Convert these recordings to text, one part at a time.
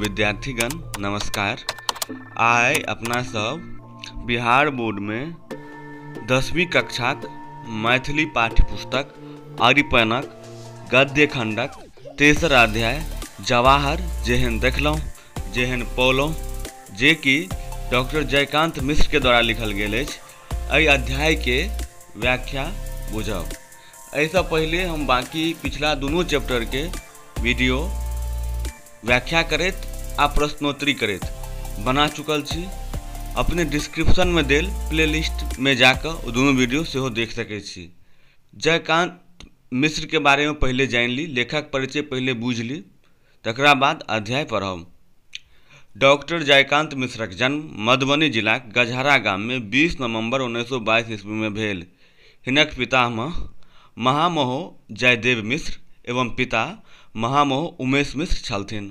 विद्यार्थीगण नमस्कार आइ अपना सब बिहार बोर्डमे दसवीं कक्षाक मैथिली पाठ्य पुस्तक अरिपनक गद्य खण्डक तेसर अध्याय जवाहर जेहन देखलहुँ जेहन पौलहुँ जे कि डॉक्टर जयकान्त मिश्रके द्वारा लिखल गेल अछि एहि अध्यायके व्याख्या बुझब एहिसँ पहिले हम बाँकी पिछला दुनू चैप्टरके वीडियो व्याख्या करैत आ प्रश्नोत्तरी करैत बना चुकल छी अपने डिस्क्रिप्शनमे देल प्लेलिस्टमे जा कऽ ओ दुनू वीडियो सेहो देख सकैत छी जयकान्त मिश्रके बारेमे पहिले जानि ली लेखक परिचय पहिले बुझि ली तकरा बाद अध्याय पढ़ब डॉक्टर जयकान्त मिश्रक जन्म मधुबनी जिलाक गजहरा गाममे बीस नवम्बर उन्नैस सए बाइस ईस्वीमे भेल हिनक पितामह महामहो जयदेव मिश्र एवं पिता महामहो उमेश मिश्र छलथिन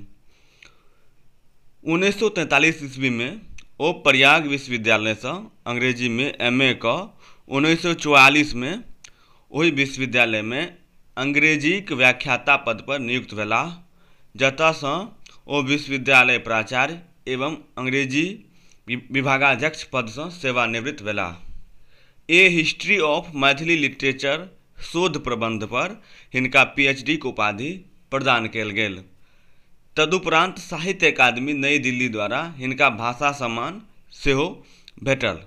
उन्नैस सए तैंतालीस ईस्वीमे ओ प्रयाग विश्वविद्यालयसँ अंग्रेजीमे एम ए कऽ उन्नैस सए चौआलिसमे ओहि विश्वविद्यालयमे अंग्रेजीक व्याख्याता पद पर नियुक्त भेलाह जतय सँ ओ विश्वविद्यालय प्राचार्य एवं अंग्रेजी विभागाध्यक्ष पद सँ सेवानिवृत्त भेलाह। A history of Maithili literature शोध प्रबंध पर हिनका पीएचडीक उपाधि प्रदान कयल गेल। तदुपरान्त साहित्य अकादमी नई दिल्ली द्वारा हिनका भाषा सम्मान सेहो भेटल।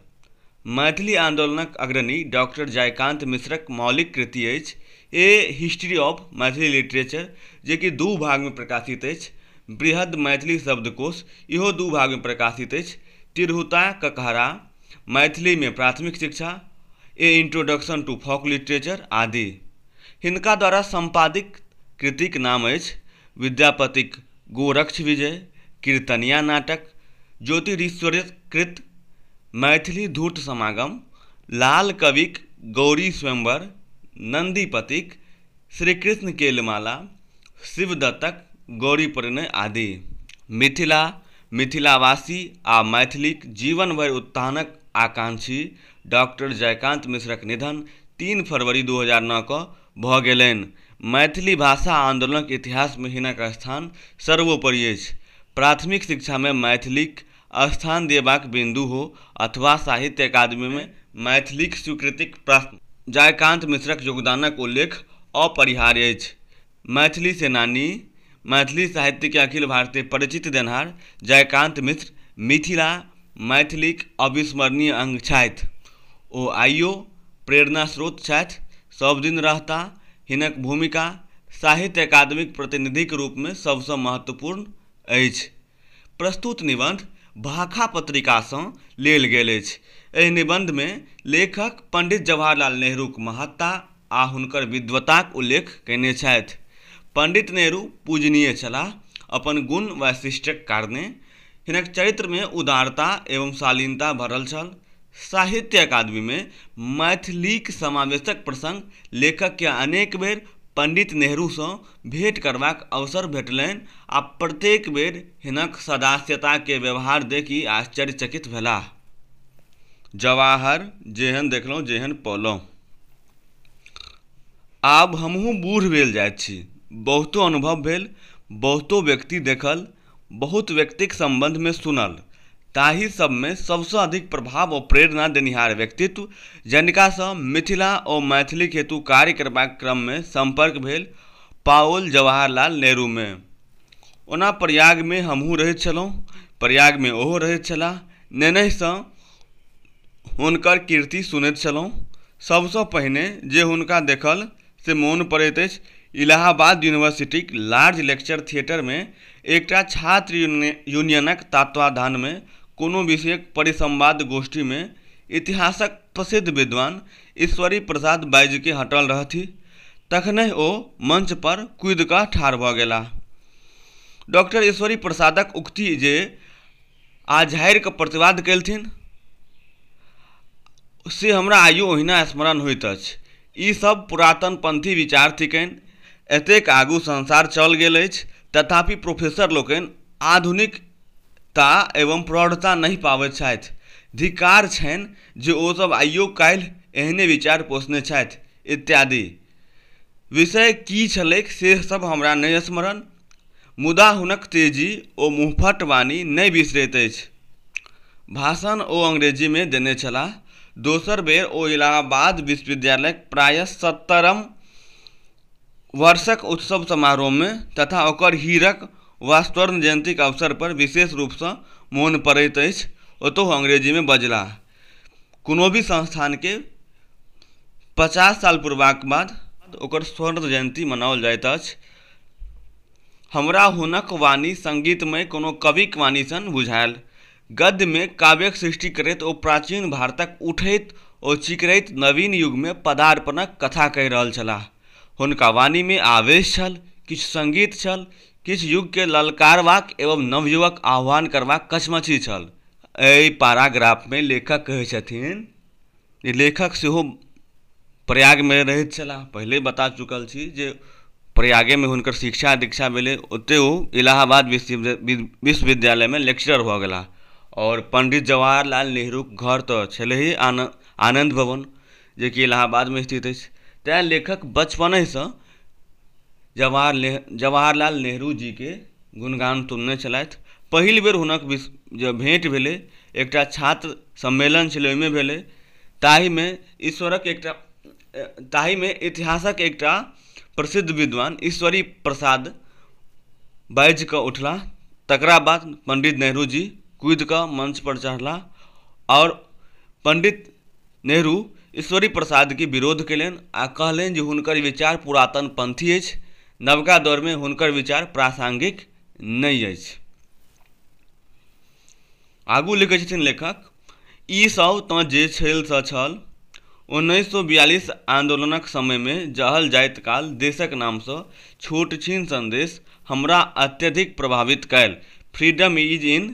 मैथिली आन्दोलनक अग्रणी डॉक्टर जयकान्त मिश्रक मौलिक कृति अछि a history of Maithili literature जे कि दू भागमे प्रकाशित अछि। बृहद् मैथिली शब्दकोश इहो दू भागमे प्रकाशित अछि। तिरहुता ककहरा मैथिलीमे प्राथमिक शिक्षा, a introduction to folk literature आदि। हिनका द्वारा सम्पादित कृतिक नाम अछि विद्यापतिक गोरक्ष विजय कीर्तनिया नाटक ज्योतिरीश्वरक कृत मैथिली धूर्त समागम लाल कविक गौरी स्वयंवर नन्दीपतिक श्रीकृष्ण केलमाला शिवदत्तक गौरी परिणय आदि मिथिला मिथिलावासी आ मैथिलीक जीवन भरि उत्थानक आकांक्षी डॉक्टर जयकान्त मिश्रक निधन तीन फरवरी दू हजार नओ कऽ भऽ गेलनि। मैथिली भाषा आन्दोलनक इतिहासमे हिनक स्थान सर्वोपरि अछि। प्राथमिक शिक्षामे मैथिलीक स्थान देबाक बिन्दु हो अथवा साहित्य अकादमीमे मैथिलीक स्वीकृतिक प्रश्न, जयकान्त मिश्रक योगदानक उल्लेख अपरिहार्य अछि। मैथिली सेनानी मैथिली साहित्यके अखिल भारतीय परिचित देनहार जयकान्त मिश्र मिथिला मैथिलीक अविस्मरणीय अंग छथि ओ आइयो प्रेरणा स्रोत छथि सब दिन रहता हिनक भूमिका साहित्य अकादमीक प्रतिनिधिक रूपमे सबसँ महत्वपूर्ण अछि प्रस्तुत निबंध भाखा पत्रिका सँ लेल गेल अछि। एहि निबंध मे लेखक पंडित जवाहरलाल नेहरूक महत्ता आ हुनकर विद्वताक उल्लेख कयने छथि। पंडित नेहरू पूजनीय छलाह। अपन गुण वैशिष्ट्यक कारणे हिनक चरित्र मे उदारता एवं शालीनता भरल छल। साहित्य अकादमी मे मैथिलीक समावेशक प्रसंग लेखक केँ अनेक बेर पंडित नेहरू सँ भेट करबाक अवसर भेटलैन आ प्रत्येक बेर हिनक सदास्यताके व्यवहार देखि आश्चर्यचकित भेलाह। जवाहर, जेहन देखलौं जेहन पौलौं। आब हमहूँ बूढ़ भेल जाइत छी। बहुतो अनुभव भेल, बहुतो व्यक्ति देखल बहुत व्यक्तिक सम्बन्ध मे सुनल, ताहि सब मे सबसँ अधिक प्रभाव ओ प्रेरणा देनिहार व्यक्तित्व जनिका सँ मिथिला ओ मैथिलीक हेतु कार्य करबाक क्रम मे सम्पर्क भेल पाओल जवाहरलाल नेहरू मे। ओना प्रयाग मे हमहूँ रहैत छलहुँ, प्रयाग मे ओहो रहैत छलाह। नेनहि सँ हुनकर कीर्ति सुनैत छलहुँ। सबसँ पहिने जे हुनका देखल। से मोन पड़ैत अछि इलाहाबाद यूनिवर्सिटीक लार्ज लेक्चर थिएटरमे एकटा छात्र यूनियनक तत्वाधानमे कोनो विषयक परिसंवाद गोष्ठीमे इतिहासक प्रसिद्ध विद्वान ईश्वरी प्रसाद बाजिके हटल रहथि तखनहि ओ मंच पर कूदि कऽ ठाढ़ भऽ गेलाह डॉक्टर ईश्वरी प्रसादक उक्ति जे आ झाड़ि कऽ प्रतिवाद केलथिन से हमरा आइयो ओहिना स्मरण होइत अछि ई सब पुरातन पंथी विचार थिकनि एतेक आगू संसार चल गेल अछि तथापि प्रोफेसर लोकनि आधुनिक ता एवं प्रौढ़ता नहि पाबैत छथि धिकार छनि जे ओ सब आइयो काल्हि एहने विचार पोषने छथि इत्यादि विषय की छलैक से सब हमरा नहि स्मरण मुदा हुनक तेजी ओ मुँहफट वाणी नहि बिसरैत अछि। भाषण ओ अंग्रेजीमे देने छलाह। दोसर बेर ओ इलाहाबाद विश्वविद्यालयक प्रायः सत्तरम वर्षक उत्सव समारोहमे तथा ओकर हीरक वा स्वर्ण जयन्तीक अवसरपर विशेष रूपसँ मोन पड़ैत अछि, ओतहु अंग्रेजीमे बजलाह। कोनो भी संस्थानके पचास साल पुरबाक बाद ओकर स्वर्ण जयन्ती मनाओल जाइत अछि हमरा हुनक वाणी सङ्गीतमय कोनो कविक वाणी सन बुझायल गद्यमे काव्यक सृष्टि करैत ओ प्राचीन भारतक उठैत ओ चिकरैत नवीन युगमे पदार्पणक कथा कहि रहल छलाह हुनका वाणीमे आवेश छल किछु सङ्गीत छल किछु युगकेँ ललकारबाक एवं नवयुगक आह्वान करबाक कचमचि छल एहि पाराग्राफमे लेखक कहै छथिन जे लेखक सेहो प्रयागमे रहैत छलाह पहिले बता चुकल छी जे प्रयागेमे हुनकर शिक्षा दीक्षा भेलै ओतै ओ इलाहाबाद विश्वविद्यालयमे लेक्चरर भऽ गेलाह आओर पण्डित जवाहर लाल नेहरुक घर तऽ छलैहे आनन्द भवन जे कि इलाहाबादमे स्थित अछि तैँ लेखक बचपनेसँ जवाहर ने जवाहरलाल नेहरू जीके गुणगान सुनने छलथि पहिल बेर हुनक विस जे भेँट भेलै एकटा छात्र सम्मेलन छलै ओहिमे भेलै ताहिमे ईश्वरक एकटा ताहिमे इतिहासक एकटा प्रसिद्ध विद्वान ईश्वरी प्रसाद बाजि कऽ उठलाह तकरा बाद पण्डित नेहरू जी कुदि कऽ मञ्चपर चढ़लाह आओर पण्डित नेहरू ईश्वरी प्रसादके विरोध कयलनि आ कहलनि जे हुनकर विचार पुरातन पंथी अछि नवका दौरमे हुनकर विचार प्रासंगिक नहि अछि आगू लिखै छथिन लेखक ई सब तँ जे छल से छल उन्नैस सए बियालिस आन्दोलनक समयमे जहल जाइत काल देशक नामसँ छोट छीन संदेश हमरा अत्यधिक प्रभावित कयल freedom is in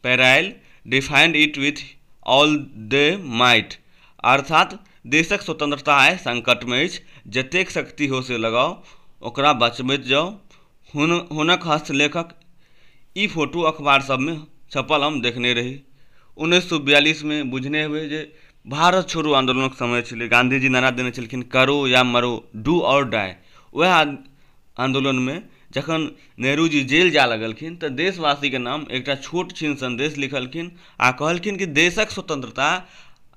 peril defend it with all the might अर्थात देशक स्वतंत्रता आइ संकट में अछि जतेक शक्ति हो से लगाओ ओकरा बचबैत जाओ हुन हुनक हस्तलेखक ई फोटो अखबार सब में छपल हम देखने रही उन्नैस सौ बयालीस में बुझने हुए जे भारत छोड़ो आंदोलन समय छलै गांधी जी नारा देने छलखिन करो या मरो डू और डाई वह आंदोलन में जखन नेहरू जी जेल जाय लगलखिन तऽ देशवासीके नाम एकटा छोट छिन सन्देश लिखलखिन आ कहलखिन कि देशक स्वतन्त्रता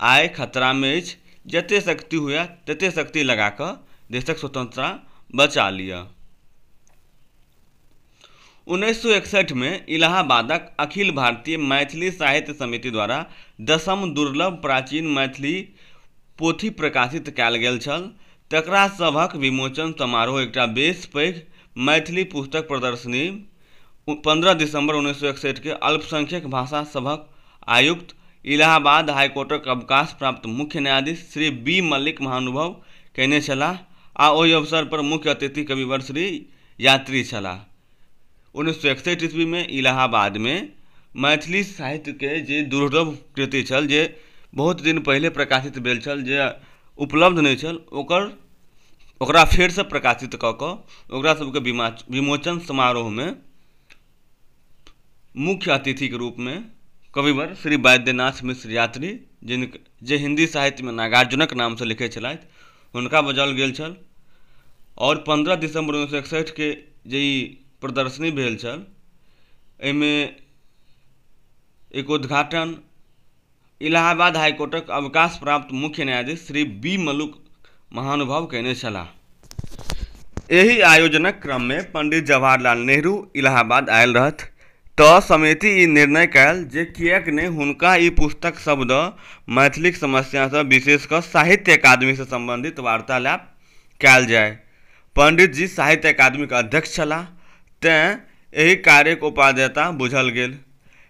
आइ खतरामे अछि जते शक्ति हुए तते शक्ति लगा कऽ देशक स्वतन्त्रता बचा लिअ उन्नैस सए एकसठिमे इलाहाबादक अखिल भारतीय मैथिली साहित्य समिति द्वारा दसम दुर्लभ प्राचीन मैथिली पोथी प्रकाशित कयल गेल छल तकरा सभक विमोचन समारोह एकटा बेस पैघ मैथिली पुस्तक प्रदर्शनी पन्द्रह दिसम्बर उन्नैस सए एकसठि केँ अल्पसंख्यक भाषा सभक आयुक्त, इलाहाबाद हाईकोर्टक अवकाश प्राप्त मुख्य न्यायाधीश श्री बी मल्लिक महानुभव कयने छलाह आ ओहि अवसर पर मुख्य अतिथि कविवर श्री यात्री छलाह। उन्नैस सए एकसठि ईस्वीमे इलाहाबादमे मैथिली साहित्यके जे दुर्लभ कृति छल जे बहुत दिन पहिले प्रकाशित भेल छल जे उपलब्ध नहि छल ओकर ओकरा फेरसँ प्रकाशित कऽ कऽ ओकरा सबके विमाच विमोचन समारोहमे मुख्य अतिथिके रूपमे कविवर श्री बैद्यनाथ मिश्र यात्री जिनक जे हिन्दी साहित्यमे नागार्जुनक नामसँ लिखै छलथि हुनका बजाओल गेल छल आओर पन्द्रह दिसम्बर उन्नैस सए एकसठिके जे ई प्रदर्शनी भेल छल एहिमे एक उद्घाटन इलाहाबाद हाइ कोर्टक अवकाश प्राप्त मुख्य न्यायाधीश श्री बी मलुक महानुभाव कयने छलाह एहि आयोजनक क्रममे पण्डित जवाहर लाल नेहरू इलाहाबाद आयल रहथि तँ समिति ई निर्णय कएल जे किएक ने हुनका ई पुस्तक सभ दऽ मैथिलीक समस्यासँ विशेष कऽ साहित्य अकादमीसँ सम्बन्धित वार्तालाप कएल जाए। पण्डितजी साहित्य अकादमीक अध्यक्ष छलाह तेँ एहि कार्यक उपादेयता बुझल गेल।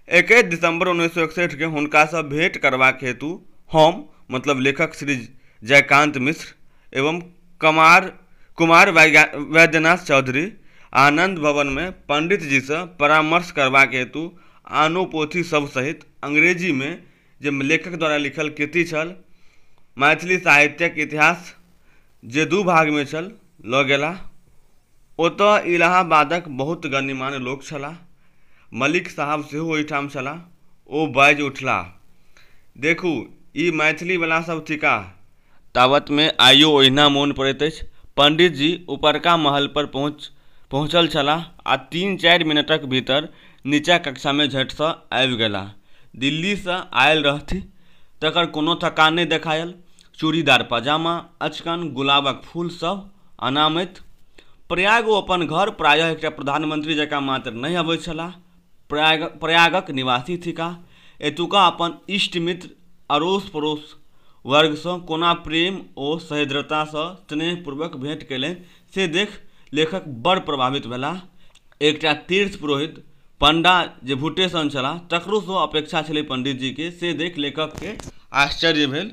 एकैस दिसम्बर उन्नैस सए एकसठि केँ हुनकासँ भेंट करबाक हेतु हम मतलब लेखक श्री जयकान्त मिश्र एवं कमार कुमार वैद्यनाथ चौधरी आनन्द भवनमे पण्डितजीसँ परामर्श करबाक हेतु आनो पोथी सभ सहित अंग्रेजीमे जे लेखक द्वारा लिखल कृति छल मैथिली साहित्यक इतिहास जे दू भागमे छल लऽ गेलाह ओतऽ इलाहाबादक बहुत गणमान्य लोक छलाह मलिक साहब सेहो ओहिठाम छलाह ओ बाजि उठलाह देखू ई मैथिलीवला सभ थिकाह तावतमे आइयो ओहिना मोन पड़ैत अछि। पंडितजी ऊपरका महलपर पहुँच पहुँचल छलाह आ तीन-चारि मिनटक भीतर नीचा कक्षामे झटसँ आबि गेलाह। दिल्लीसँ आयल रहथि तकर कोनो थकान नहि देखायल। चूड़ीदार पजामा, अचकन गुलाबक फूल सभ अनामैत। प्रयाग ओ अपन घर प्रायः एकटा प्रधानमंत्री जकाँ मात्र नहि अबैत छलाह, प्रयाग प्रयागक निवासी थिकाह एतुका अपन इष्ट मित्र अड़ोस पड़ोस वर्गसँ कोना प्रेम ओ सहेद्रतासँ स्नेहपूर्वक भेंट कयलनि से देख लेखक बड़ प्रभावित भेलाह एकटा तीर्थ पुरोहित पंडा जे भुट्टे सन छलाह तकरोसँ अपेक्षा छलै पंडितजीके से देख लेखकके आश्चर्य भेल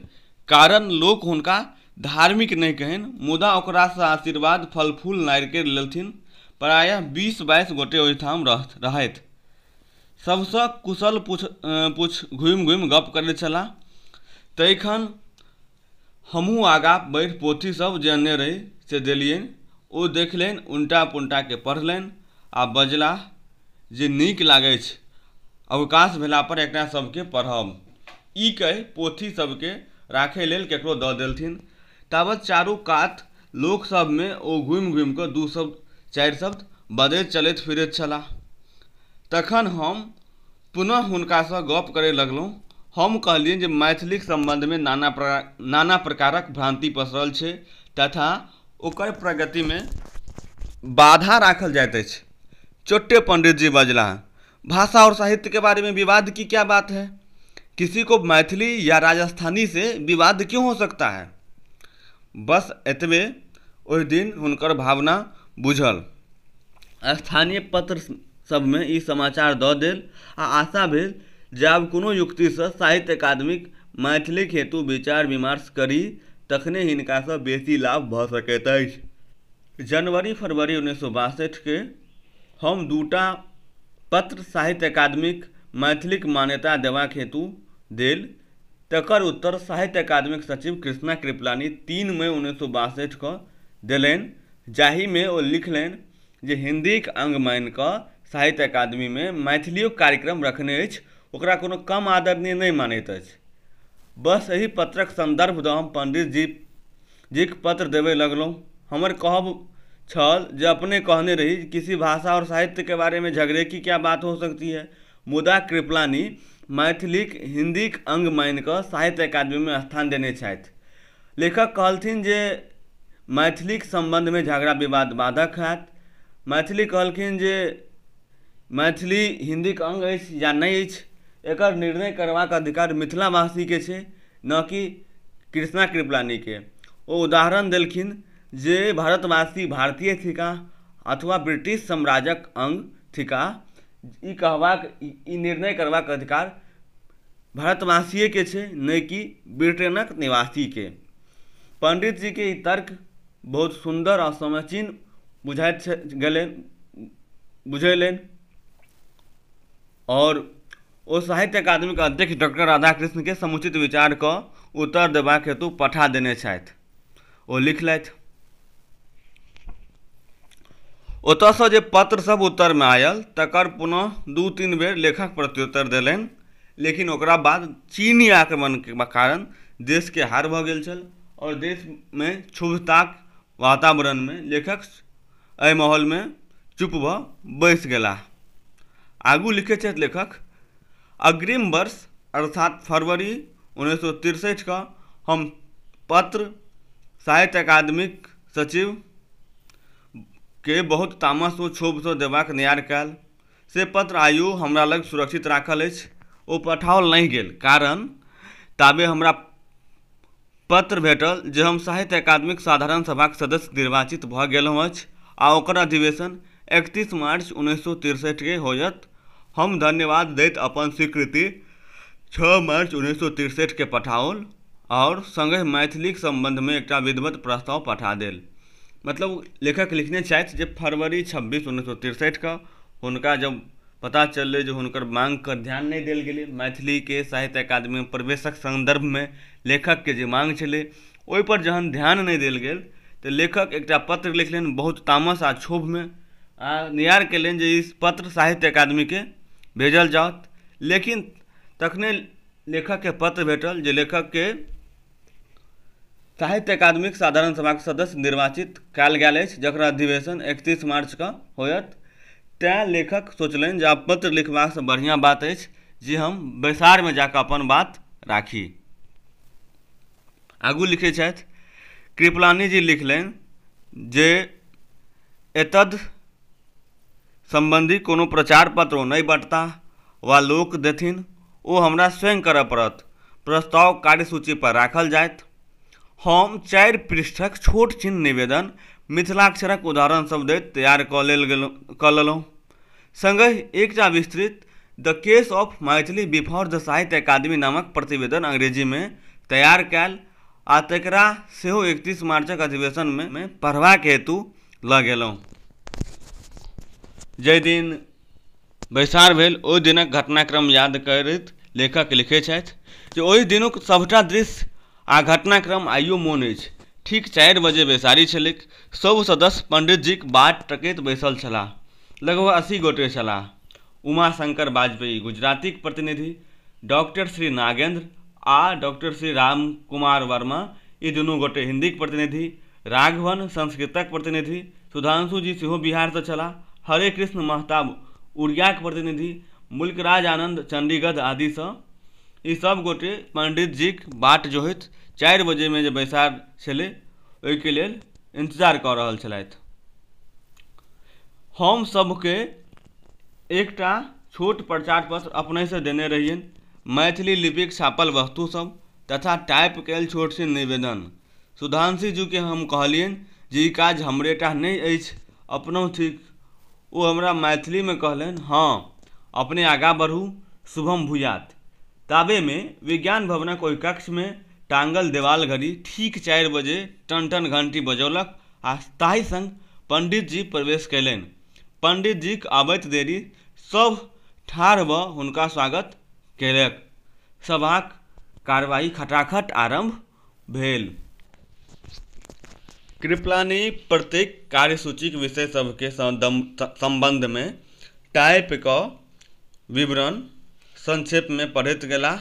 कारण लोक हुनका धार्मिक नहि कहेन मुदा ओकरा सँ आशीर्वाद फल-फूल नारिकेर लेलथिन। प्रायः बीस-बाइस गोटे ओहिठाम रहथि। सभ सँ कुशल पुछ-पुछ घुमि-घुमि गप्प करैत छलाह। तइखन हमहूँ आगाँ बढ़ि पोथी सभ जे अनने रही से देलियनि। ओ देखलनि उनटा-पुनटा कऽ पढ़लनि आ बजलाह। जे नीक लागै अछि अवकाश भेला पर एकरा सबके पढ़ब ई कहि पोथी सबके राखै लेल केकरो दऽ देलथिन। ताबत चारू कात लोक सब मे ओ घुमि-घुमि कऽ दू शब्द, चारि शब्द बजैत चलैत फिरैत छलाह। तखन हम पुनः हुनका सँ गप्प करय लगलहुँ। हम कहलियनि जे मैथिलीक सम्बन्ध मे नाना प्रकारक भ्रान्ति पसरल छै तथा ओकर प्रगतिमे बाधा राखल जाइत अछि चोट्टे पण्डित जी बजला भाषा आओर साहित्यके बारेमे विवाद की क्या बात है किसी को मैथिली या राजस्थानी से विवाद क्यों हो सकता है बस एतबे ओहि दिन हुनकर भावना बुझल स्थानीय पत्र सभमे ई समाचार दऽ देल आ आशा भेल जे आब कोनो युक्तिसँ साहित्य अकादमीक मैथिलीक हेतु विचार विमर्श करी तखने हिनकासँ बेसी लाभ भऽ सकैत अछि। जनवरी फरवरी उन्नैस सए बासठि केँ हम दू टा पत्र साहित्य अकादमीक मैथिलीक मान्यता देबाक हेतु देल तकर उत्तर साहित्य अकादमीक सचिव कृष्णा कृपलानी तीन मइ उन्नैस सए बासठि कऽ देलनि जाहिमे ओ लिखलनि जे हिन्दीक अङ्ग मानि कऽ साहित्य अकादमीमे मैथिलियो कार्यक्रम रखने अछि ओकरा कोनो कम आदरणीय नहि मानैत अछि बस एहि पत्रक सन्दर्भ दऽ हम पण्डितजी जीक पत्र देबय लगलहुँ हमर कहब छल जे अपने कहने रही कि किसी भाषा आओर साहित्यके बारेमे झगड़े कि क्या बात हो सकती है मुदा कृपलानी मैथिलीक हिन्दीक अङ्ग मानि कऽ साहित्य अकादमीमे स्थान देने छथि लेखक कहलथिन जे मैथिलीक सम्बन्धमे झगड़ा विवाद बाधक होयत मैथिली कहलखिन जे मैथिली हिन्दीक अङ्ग अछि या नहि अछि एकर निर्णय करबाक अधिकार मिथिला वासीके छै न कि कृष्णा कृपलानीके ओ उदाहरण देलखिन जे भारतवासी भारतीय थिकाह अथवा ब्रिटिश साम्राज्यक अङ्ग थिकाह ई कहबाक ई निर्णय करबाक अधिकार भारतवासिएके छै नहि कि ब्रिटेनक निवासीके पण्डितजीके ई तर्क बहुत सुन्दर आ समीचीन बुझाइत गेलनि बुझेलनि आओर ओ साहित्य अकादमीके अध्यक्ष डॉक्टर राधाकृष्णके समुचित विचारके उत्तर देबाक हेतु पठा देने छथि ओ लिखलथि ओतयसँ जे पत्रसभ उत्तरमे आयल तकर पुनः दू तीन बेर लेखक प्रत्युत्तर देलनि लेकिन ओकरा बाद चीनी आक्रमणके कारण देशके हार भऽ गेल छल आओर देशमे क्षुब्धताक वातावरणमे लेखक एहि माहौलमे चुप भऽ बैस गेलाह आगू लिखैत छथि लेखक अग्रिम वर्ष अर्थात फरवरी उन्नैस सए तिरसठि कऽ हम पत्र साहित्य अकादमीक सचिव के बहुत तामस ओ क्षोभ सँ देबाक नियार कयल से पत्र आइयो हमरा लग सुरक्षित राखल अछि ओ पठाओल नहि गेल कारण ताबे हमरा पत्र भेटल जे हम साहित्य अकादमीक साधारण सभाक सदस्य निर्वाचित भऽ गेलहुँ अछि आ ओकर अधिवेशन एकतीस मार्च उन्नैस सए तिरसठिकेँ होयत। हम धन्यवाद दैत अपन स्वीकृति छओ मार्च उन्नैस सए तिरसठिकेँ पठाओल आओर संगहि मैथिलीक सम्बन्धमे एकटा विधिवत प्रस्ताव पठा देल। मतलब लेखक लिखने छथि जे फरवरी छब्बीस उन्नैस सए तिरसठिकेँ हुनका जब पता चललै जे हुनकर माँगके ध्यान नहि देल गेलै मैथिलीके साहित्य अकादमी प्रवेशक सन्दर्भमे लेखकके जे माँग छलै ओहिपर जहन ध्यान नहि देल गेल तऽ लेखक एकटा पत्र लिखलनि बहुत तामस आओर क्षोभमे आओर निहोरा केलनि जे ई पत्र साहित्य अकादमीके भेजल जाउ लेकिन तखने लेखकके पत्र भेटल जे लेखकके साहित्य अकादमीक साधारण सभाक सदस्य निर्वाचित कयल गेल अछि जकरा अधिवेशन एकतीस मार्चके होयत तैँ लेखक सोचलनि जे आब पत्र लिखबासँ बढ़िआँ बात अछि जे हम बैसारमे जा कऽ अपन बात राखी आगू लिखै छथि कृपलानी जी लिखलनि जे एतद् सम्बन्धी कोनो प्रचार पत्र ओ नहि बँटताह वा लोक देथिन ओ हमरा स्वयं करय पड़त प्रस्ताव कार्यसूचीपर राखल जायत हम चारि पृष्ठक छोट छिन निवेदन मिथिलाक्षरक उदाहरणसभ दैत तैयार कऽ लेल गेलहुँ कऽ लेलहुँ सङ्गहि एकटा विस्तृत the case of Maithili before the Sahitya Akademi नामक प्रतिवेदन अंग्रेजीमे तैयार कयल आ तकरा सेहो एकतीस मार्चक अधिवेशनमे पढ़बाक हेतु लऽ गेलहुँ जाहि दिन बैसार भेल ओहि दिनक घटनाक्रम याद करैत लेखक लिखैत छथि जे ओहि दिनुक सभटा दृश्य आ घटनाक्रम आइयो मोन अछि ठीक चारि बजे बैसारी छलैक सभ सदस्य पंडितजीक बाट तकैत बैसल छलाह लगभग अस्सी गोटे छलाह उमाशंकर बाजपेयी, गुजरातीक प्रतिनिधि, डॉक्टर श्री नागेन्द्र आ डॉक्टर श्री रामकुमार वर्मा, ई दुनू गोटे हिन्दीक प्रतिनिधि, राघवन, संस्कृतक प्रतिनिधि, सुधांशु जी सेहो बिहारसँ छलाह, हरेकृष्ण महताब, उड़ियाक प्रतिनिधि, मुल्कराज आनन्द, चण्डीगध आदिसँ। ई सभ गोटे पण्डितजीक बाट जोहैत चारि बजेमे जे बैसार छेलै ओइके लेल इन्तजार कऽ रहल छेलैथ। हम सभकेँ एकटा छोट प्रचार पत्र अपनेसँ देने रहियनि मैथिली लिपिक छापल वस्तु सब तथा टाइप कयल छोट सन निवेदन सुधांशु जी के हम कहलियनि जे ई काज हमरे टा नहि अछि अपनो थिक ओ हमरा मैथिली मे कहलनि हँ अपने आगाँ बढू शुभम भूयात ताबे मे विज्ञान भवनक ओहि कक्ष मे टांगल देवाल घड़ी ठीक चारि बजे टन टन घंटी बजौलक आ ताहि संग पंडित जी प्रवेश कयलनि पण्डितजीक अबैत देरी सभ ठाढ़ भऽ हुनका स्वागत केलक। सभाक कार्यवाही खटाखट आरम्भ भेल। कृपलानि प्रत्येक कार्यसूचीक विषय सभकेँ सम्बन्धमे टाइप कऽ विवरण संक्षेपमे पढ़ैत गेलाह।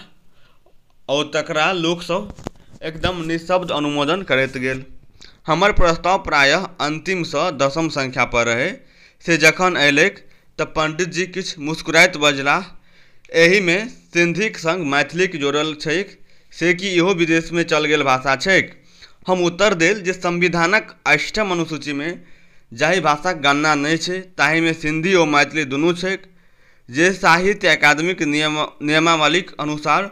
आओर तकरा लोकसभ एकदम निःशब्द अनुमोदन करैत गेल हमर प्रस्ताव प्रायः अन्तिमसँ दशम संख्यापर रहै से जखन अयलैक तऽ पण्डितजी किछु मुस्कुराइत बजलाह एहिमे सिन्धीक सङ्ग मैथिलीक जोड़ल छैक से की इहो विदेशमे चल गेल भाषा छैक हम उत्तर देल जे संविधानक अष्टम अनुसूचीमे जाहि भाषाक गणना नहि छै ताहिमे सिन्धी आओर मैथिली दुनू छैक जे साहित्य अकादमीक नियम नियमावलीक अनुसार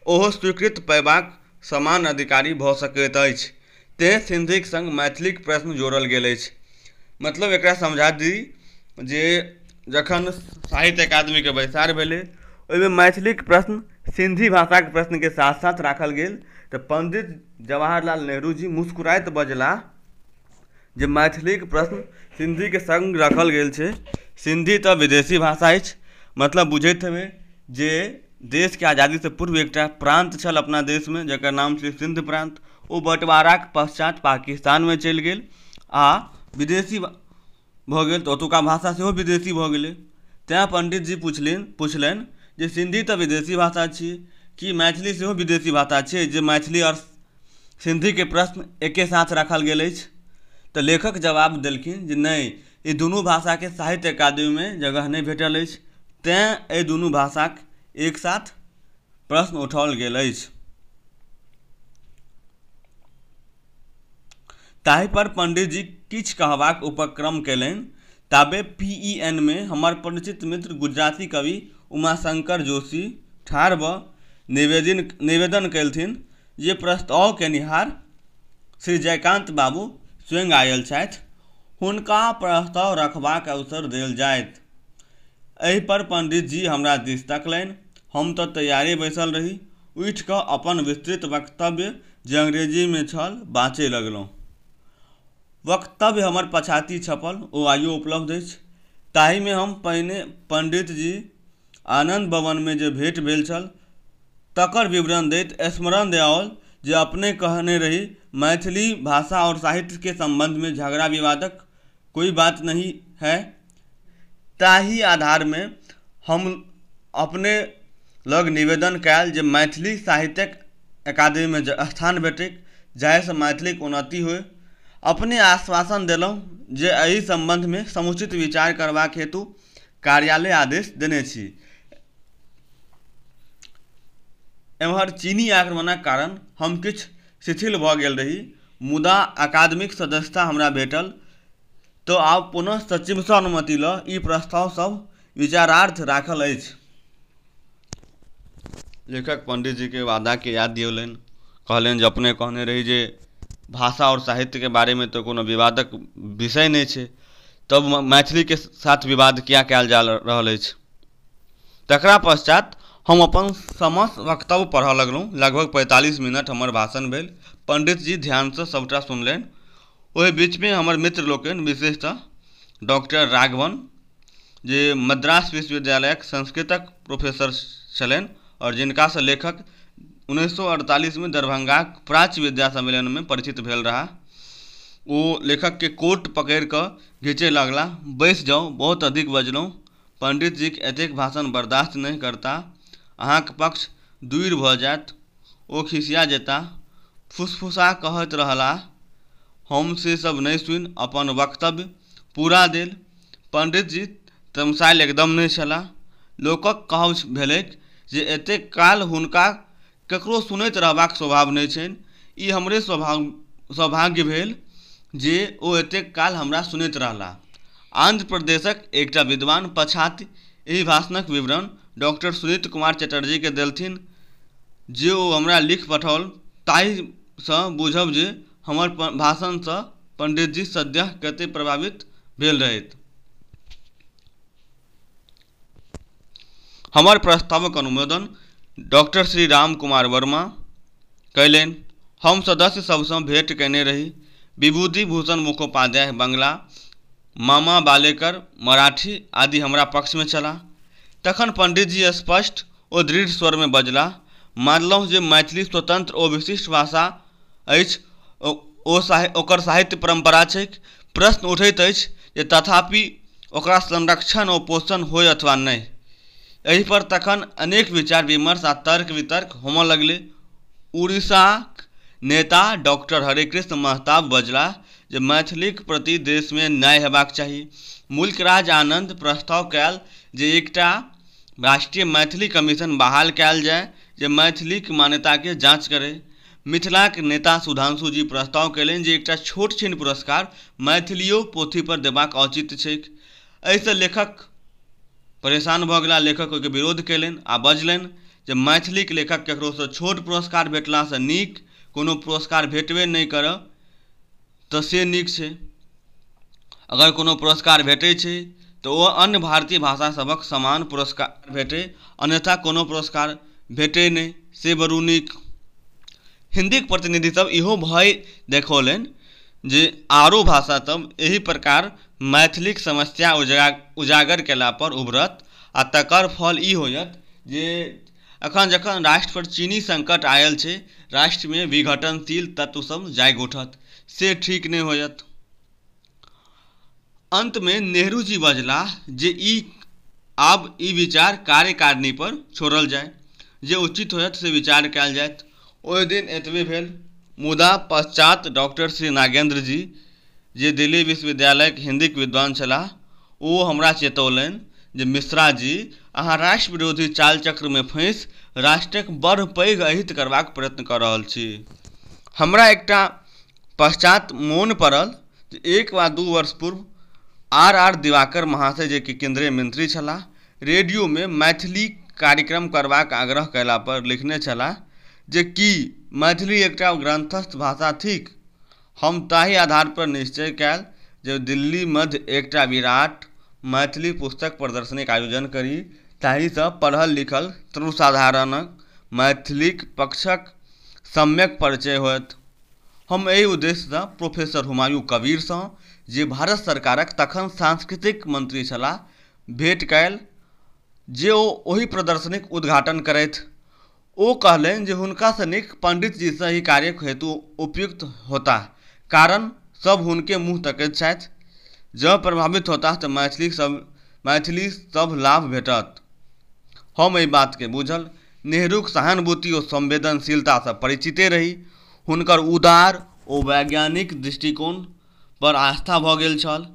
ओहो स्वीकृत पयबाक समान अधिकारी भऽ सकैत अछि तैँ सिन्धीक सङ्ग मैथिलीक प्रश्न जोड़ल गेल अछि मतलब एकरा समझा दी जे जखन साहित्य अकादमीके बैसार भेलै ओहिमे मैथिलीक प्रश्न सिन्धी भाषाक प्रश्नके साथ साथ राखल गेल तऽ पण्डित जवाहर लाल नेहरू जी मुस्कुराइत बजला जे मैथिलीक प्रश्न हिन्दीके सङ्ग राखल गेल छै हिन्दी तऽ विदेशी भाषा अछि मतलब बुझैत हेबै जे देशके आजादीसँ पूर्व एकटा प्रान्त छल अपना देशमे जकर नाम छियै सिन्ध प्रान्त ओ बँटवाराके पश्चात पाकिस्तानमे चलि गेल आओर विदेशी भऽ गेल तऽ ओतुका भाषा सेहो विदेशी भऽ गेलै तैं पण्डित जी पुछलनि पुछलनि जे हिन्दी तऽ विदेशी भाषा छी की मैथिली सेहो विदेशी भाषा छै जे मैथिली आओर सिन्धीके प्रश्न एके साथ राखल गेल अछि तऽ लेखक जवाब देलखिन जे नहि ई दुनू भाषाके साहित्य अकादमीमे जगह नहि भेटल अछि तैँ एहि दुनू भाषाक एक साथ प्रश्न उठाओल गेल अछि ताहिपर पण्डिजी किछु कहबाक उपक्रम कयलनि ताबे पी ई एन मे हमर परिचित मित्र गुजराती कवि उमाशङ्कर जोशी ठाढ़ भऽ निवेदिन निवेदन केलथिन जे प्रस्ताव केनिहार श्री जयकान्त बाबू स्वयं आयल छथि हुनका प्रस्ताव रखबाक अवसर देल जायत एहिपर पण्डित जी हमरा दिस तकलनि हम तऽ तैयारे बैसल रही उठि कऽ अपन विस्तृत वक्तव्य जे अंग्रेजीमे छल बाजय लगलहुँ वक्तव्य हमर पछाति छपल ओ आइयो उपलब्ध अछि ताहिमे हम पहिने पण्डित जी आनन्द भवनमे जे भेँट भेल छल तकर विवरण दैत स्मरण देआओल जे अपने कहने रही मैथिली भाषा आओर साहित्यके सम्बन्धमे झगड़ा विवादक कोइ बात नहीं है ताहि आधारमे हम अपने लग निवेदन कयल जे मैथिली साहित्यिक अकादमीमे स्थान भेटै जाहिसँ मैथिलीके उन्नति होइ अपने आश्वासन देलहुँ जे एहि सम्बन्धमे समुचित विचार करबाक हेतु कार्यालय आदेश देने छी एम्हर चीनी आक्रमणक कारण हम किछु शिथिल भऽ गेल रही मुदा अकादमीके सदस्यता हमरा भेटल तँ आब पुनः सचिवसँ अनुमति लऽ ई प्रस्ताव सभ विचारार्थ राखल अछि। लेखक पंडितजीकेँ वादाकेँ याद दियौलनि। कहलनि जे अपने कहने रही जे भाषा आओर साहित्यकेँ बारेमे तँ कोनो विवादक विषय नहि छै, तब मैथिलीकेँ साथ विवाद किया कएल जा रहल अछि? तकरा पश्चात् हम अपन समस्त वक्तव्य पढ़ऽ लगलहुँ। लगभग पैंतालीस मिनट हमर भाषण भेल। पंडितजी ध्यानसँ सभटा सुनलनि। ओहि बीचमे हमर मित्र लोकनि विशेषतः डॉक्टर राघवन जे मद्रास विश्वविद्यालयक संस्कृतक प्रोफेसर छलनि आओर जिनकासँ लेखक उन्नैस सए अड़तालीसमे दरभंगाक प्राच्य विद्या सम्मेलनमे परिचित भेल रहए ओ लेखकके कोट पकड़ि कऽ घीचय लगला बैस जाउ बहुत अधिक बजलहुँ पण्डितजीक एतेक भाषण बर्दाश्त नहि करता अहाँक पक्ष दूरि भऽ जायत ओ खिसिया जेताह। फुसफुसा कहैत रहलाह। हम से सब नहि सुनि अपन वक्तव्य पूरा देल। पंडितजी तमसाएल एकदम नहि छलाह। लोकक कहब भेलैक जे एतेक काल हुनका ककरो सुनैत रहबाक स्वभाव नहि छनि। ई हमरे सौभाग्य भेल जे ओ एतेक काल हमरा सुनैत रहलाह। आन्ध्र प्रदेशक एकटा विद्वान पछाति एहि भाषणक विवरण डॉक्टर सुनीत कुमार चटर्जीकेँ देलथिन जे ओ हमरा लिखि पठौल ताहिसँ बुझब जे हमर भाषणसँ पण्डितजी सद्यः कतेक प्रभावित भेल रहथि। हमर प्रस्तावक अनुमोदन डॉक्टर श्री राम कुमार वर्मा कयलनि हम सदस्य सभसँ भेंट कयने रही विभूति भूषण मुखोपाध्याय बंगला मामा बालेकर मराठी आदि हमरा पक्षमे छलाह तखन पंडितजी स्पष्ट ओ दृढ़ स्वरमे बजलाह मानलहुँ जे मैथिली स्वतंत्र ओ विशिष्ट भाषा अछि ओ ओ साहि ओकर साहित्य परम्परा छै प्रश्न उठैत अछि जे तथापि ओकरा संरक्षण ओ पोषण होइ अथवा नहि एहिपर तखन अनेक विचार विमर्श आ तर्क वितर्क होमऽ लगलै उड़ीसाक नेता डॉक्टर हरेकृष्ण महताब बजलाह जे मैथिलीक प्रति देशमे न्याय हेबाक चाही मुल्कराज आनन्द प्रस्ताव कयल जे एकटा राष्ट्रीय मैथिली कमीशन बहाल कयल जाय जे मैथिलीक मान्यताके जाँच करय। मिथिलाक नेता सुधांशु जी प्रस्ताव कयलनि जे एकटा छोट छीन पुरस्कार मैथिलीयो पोथी पर देबाक औचित्य छैक। एहिसँ लेखक परेशान भऽ गेलाह। लेखक ओहिके विरोध कयलनि आ बजलनि जे मैथिलीक लेखक केकरोसँ छोट पुरस्कार भेटलासँ नीक कोनो पुरस्कार भेटबे नहि करय। तऽ से नीक छै अगर कोनो पुरस्कार भेटै छै तऽ ओ अन्य भारतीय भाषा सभक समान पुरस्कार भेटै अन्यथा कोनो पुरस्कार भेटै नहि से बरु नीक हिन्दीके प्रतिनिधि सभ इहो भय देखौलनि जे आरो भाषा सभ एहि प्रकार मैथिलीक समस्या उजागर केला पर उभरत आ तकर फल ई होयत जे अखन जखन राष्ट्र पर चीनी संकट आयल छै, राष्ट्र मे विघटनशील तत्व सब जागि उठत, से ठीक नहि होयत। अंत मे नेहरू जी बजलाह जे ई आब ई विचार कार्यकारिणी पर छोड़ल जाय, जे उचित होयत से विचार कयल जायत। ओहि दिन एतबे भेल। मुदा पश्चात् डॉक्टर श्री नागेन्द्र जी, जे दिल्ली विश्वविद्यालयक हिन्दीक विद्वान छलाह, ओ हमरा चेतौलनि जे मिश्रा जी, अहाँ राष्ट्रविरोधी चालचक्रमे फँसि राष्ट्रक बड़ पैघ अहित करबाक प्रयत्न कऽ रहल छी। हमरा एकटा पश्चात् मोन पड़ल जे एक वा दू वर्ष पूर्व आर आर दिवाकर महाशय जे कि केन्द्रीय मंत्री छलाह, रेडियोमे मैथिली कार्यक्रम करबाक आग्रह कयला पर लिखने छलाह जे की मैथिली एकटा ग्रन्थस्थ भाषा थिक? हम ताहि आधार पर निश्चय कयल जे दिल्ली मध्य एकटा विराट मैथिली पुस्तक प्रदर्शनीक आयोजन करी ताहिसँ पढ़ल-लिखल सर्वसाधारणक मैथिलीक पक्षक सम्यक परिचय होयत। हम एहि उद्देश्यसँ प्रोफेसर हुमायूँ कबीरसँ, जे भारत सरकारक तखन सांस्कृतिक मंत्री छलाह, भेट कयल जे ओ ओहि प्रदर्शनीक उद्घाटन करथि। ओ कहलनि जे हुनका सँ नीक पंडित जी सँ एहि कार्यक हेतु उपयुक्त होताह। कारण सभ हुनके मुँह तकैत छथि। जँ प्रभावित होताह तँ मैथिलीक सभ मैथिली सभ लाभ भेटत। हम एहि बात केँ बुझल नेहरूक सहानुभूति ओ संवेदनशीलता सँ परिचिते रही। हुनकर उदार ओ वैज्ञानिक दृष्टिकोण पर आस्था भऽ गेल छल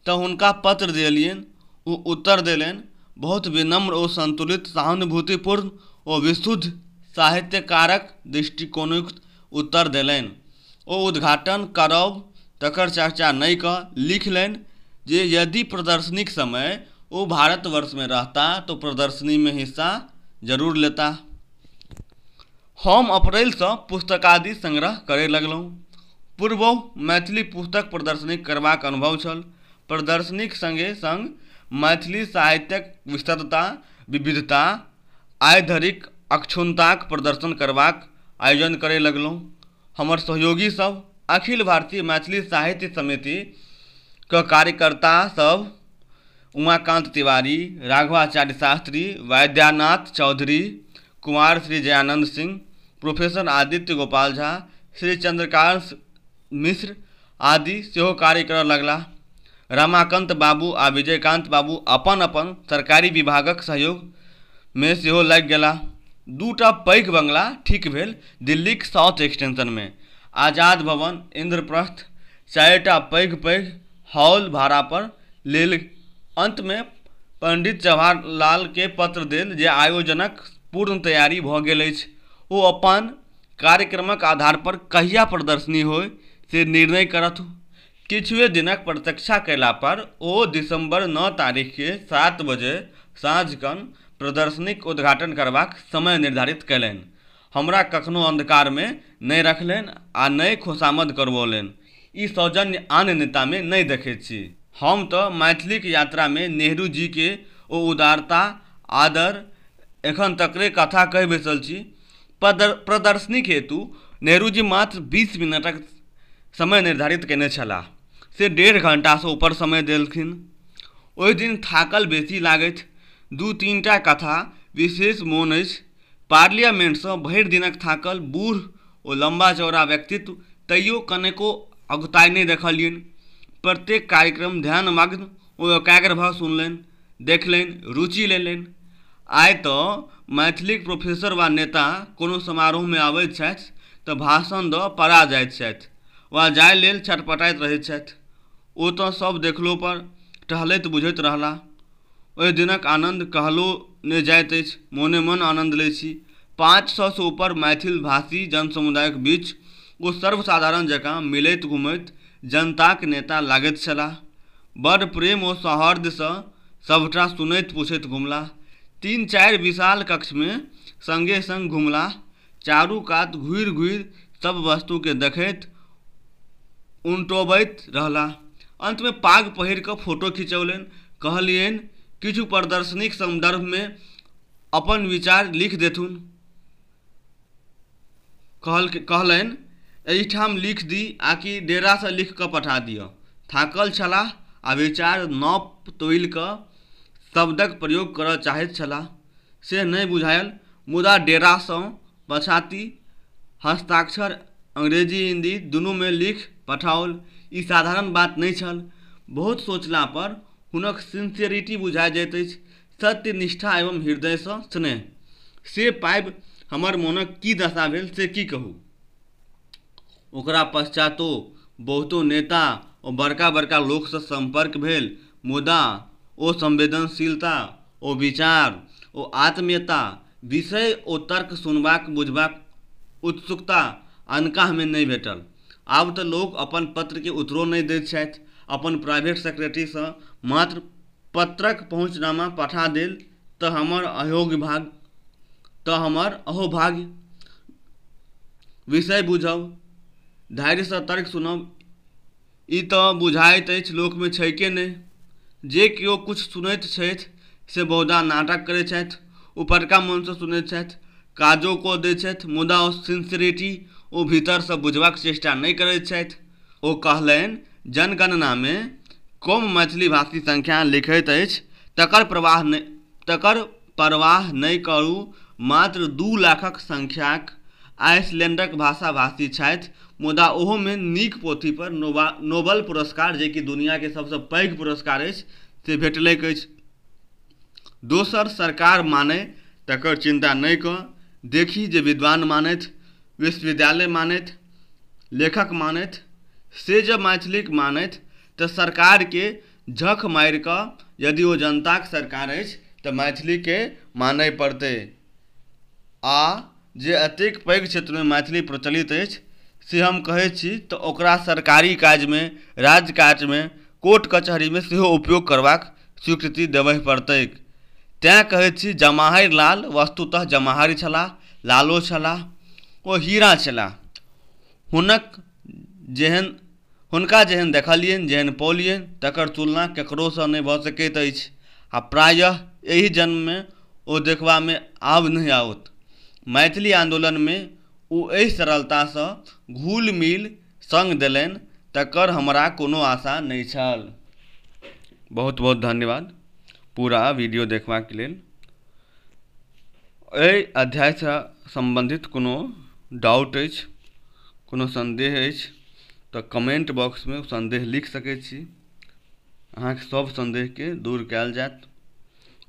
तऽ हुनका पत्र देलियनि ओ उत्तर देलनि बहुत विनम्र ओ संतुलित सहानुभूतिपूर्ण ओ विशुद्ध साहित्यकारक दृष्टिकोणक उत्तर देलनि ओ उद्घाटन करब तकर चर्चा नहि कऽ लिखलनि जे यदि प्रदर्शनीक समय ओ भारतवर्षमे रहता तऽ प्रदर्शनीमे हिस्सा जरूर लेता हम अप्रैलसँ पुस्तकादि संग्रह करय लगलहुँ। पूर्वहु मैथिली पुस्तक प्रदर्शनी करबाक अनुभव छल। प्रदर्शनीक संगे-संग मैथिली साहित्यक विशदता, विविधता, आइ धरिक अक्षुण्णताक प्रदर्शन करबाक आयोजन करय लगलहुँ। हमर सहयोगी सभ, अखिल भारतीय मैथिली साहित्य समिति, क कार्यकर्ता सभ, उमाकान्त तिवारी, राघवाचार्य शास्त्री, वैद्यानाथ चौधरी, कुमार श्री जयानंद सिंह प्रोफेसर आदित्य गोपाल झा श्री चंद्रकांत मिश्र आदि सेहो कार्य करय लगलाह रमाकांत बाबू आ विजयकांत बाबू अपन अपन सरकारी विभागक सहयोग मे सेहो लागि गेलाह दू टा पैघ बंगला ठीक भेल दिल्लीक साउथ एक्सटेंशन मे आजाद भवन इंद्रप्रस्थ चारिटा पैघ पैघ हॉल भाड़ापर लेल अन्तमे पण्डित जवाहर लालकेँ पत्र देल जे आयोजनक पूर्ण तैयारी भऽ गेल अछि ओ अपन कार्यक्रमक आधारपर कहिया प्रदर्शनी होय से निर्णय करथु किछुए दिनक प्रतीक्षा कयलापर ओ दिसम्बर नओ तारीखकेँ सात बजे साँझखन प्रदर्शनीक उद्घाटन करबाक समय निर्धारित कयलनि हमरा कखनो अन्धकारमे नै रखलैन आ नै खोसामद करवौलैन। ई सौजन्य आन नेतामे नै देखैत छी। हम तँ मैथिलीक यात्रामे नेहरूजीके ओ उदारता, आदर एखन तकरे कथा कहि बैसल छी। प्रदर्शनीक हेतु नेहरूजी मात्र बीस मिनटक समय निर्धारित कएने छलाह से डेढ़ घण्टासँ ऊपर समय देलखिन। ओहि दिन थाकल बेसी लागथि। दू-तीनटा कथा विशेष मोन अछि पार्लियामेंटसँ भरि दिनक थाकल बूढ़ ओ लम्बा-चौड़ा व्यक्तित्व तैयो कनेको अगुताइ नहि देखलियनि। प्रत्येक कार्यक्रम ध्यानमग्न ओ एकाग्र भऽ सुनलनि, देखलनि, रुचि लेलनि। आइ तँ मैथिलीक प्रोफेसर वा नेता कोनो समारोहमे अबैत छथि तँ भाषण दऽ पड़ा जाइत छथि वा जाए लेल छटपटाइत रहैत छथि। ओ तँ सभ देखलोपर टहलैत बुझैत रहलाह। ओहि दिनक आनन्द कहलो ने जाइत अछि। मोने-मन आनन्द लैत छी। पाँच सौ सँ ऊपर मैथिलभाषी जनसमुदायक बीच ओ सर्वसाधारण जकाँ मिलैत-घुमैत जनताक नेता लागैत छलाह। बड़ प्रेम ओ सौहार्द्य सँ सभटा सुनैत-पुछैत घुमलाह। तीन-चारि विशाल कक्षमे संगे-संग घुमलाह। चारू कात घुरि घुरि सभ वस्तुकेँ देखैत उनटोबैत रहलाह। अन्तमे पाग पहिरि कऽ फोटो खिचौलनि। कहलियनि किछु प्रदर्शनीक सन्दर्भमे अपन विचार लिखि देथुन। कहलनि एहिठाम लिखि दी आकि डेरासँ लिखि कऽ पठा दिअ। थाकल छलाह आ विचार नोप तोलि कऽ शब्दक प्रयोग करय चाहैत छलाह। से नहि बुझायल मुदा डेरासँ पछाति हस्ताक्षर अंग्रेजी हिन्दी दुनूमे लिख पठाओल ई साधारण बात नहि छल बहुत सोचला पर हुनक सिन्सेरिटी बुझा जाइत अछि सत्य निष्ठा एवं हृदयसँ स्नेह से पाबि हमर मोनक की दशा भेल से की कहू ओकरा पश्चातो बहुतो नेता ओ बड़का बड़का लोकसँ सम्पर्क भेल मुदा ओ संवेदनशीलता ओ विचार ओ आत्मीयता विषय ओ तर्क सुनबाक बुझबाक उत्सुकता अनकाहमे नहि भेटल आब तऽ लोक अपन पत्रके उत्तरो नहि दैत छथि अपन प्राइवेट सेक्रेटरीसँ मात्र पत्रक पहुँचनामा पठा देल तऽ हमर अयोग्य भाग तऽ हमर अहोभाग्य विषय बुझब धैर्यसँ तर्क सुनब ई तऽ बुझाइत अछि लोकमे छैके नहि जे केओ किछु सुनैत छथि से बहुधा नाटक करै छथि उपरका मोनसँ सुनै छथि काजो कऽ दै छथि मुदा ओ सिन्सियरिटी ओ भीतरसँ बुझबाक चेष्टा नहि करै छथि ओ कहलनि जनगणनामे कम मैथिली भाषी संख्या लिखैत अछि तकर प्रवाह नहि तकर परवाह नहि करू मात्र दू लाखक संख्याक आइसलैंडक भाषा भाषी छथि मुदा ओहोमे नीक पोथी पर नोबा नोबल पुरस्कार जेकि दुनियाके सभसँ पैघ पुरस्कार अछि से भेटलैक अछि दोसर सरकार मानै तकर चिन्ता नहि कऽ देखी जे विद्वान मानथि विश्वविद्यालय मानथि लेखक मानथि से जँ मैथिलीके मानथि तऽ सरकारके झक मारिके यदि ओ जनताके सरकार अछि तऽ मैथिलीके मानै पड़तै आओर जे एतेक पैघ क्षेत्रमे मैथिली प्रचलित अछि से हम कहै छी तऽ ओकरा सरकारी काजमे राज काजमे कोर्ट-कचहरीमे सेहो उपयोग करबाक स्वीकृति देबहि पड़तैक। तेँ कहैत छी जमाहरि लाल वस्तुतः जमाहरि छलाह, लालो छलाह। ओ हीरा छलाह। हुनक जेहेन, हुनका जेहेन देखलियनि, जेहेन पौलियनि तकर तुलना ककरोसँ नहि भऽ सकैत अछि आ प्रायः एहि जन्ममे ओ देखबामे आब नहि आओत। मैथिली आन्दोलनमे ओ एहि सरलतासँ घुलि-मिलि सङ्ग देलनि तकर हमरा कोनो आशा नहि छल बहुत बहुत धन्यवाद पूरा वीडियो देखबाक लेल एहि अध्यायसँ सम्बन्धित कोनो डाउट अछि कोनो सन्देह अछि तऽ कमेंट बॉक्समे सन्देह लिख सकै छी अहाँके सभ सन्देहके दूर कयल जायत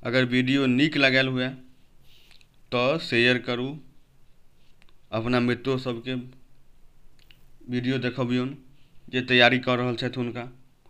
अगर वीडियो नीक लागल हुए तऽ शेयर करू अपना मित्रो सभके वीडियो देखबियौन जे तैयारी कऽ रहल छथि हुनका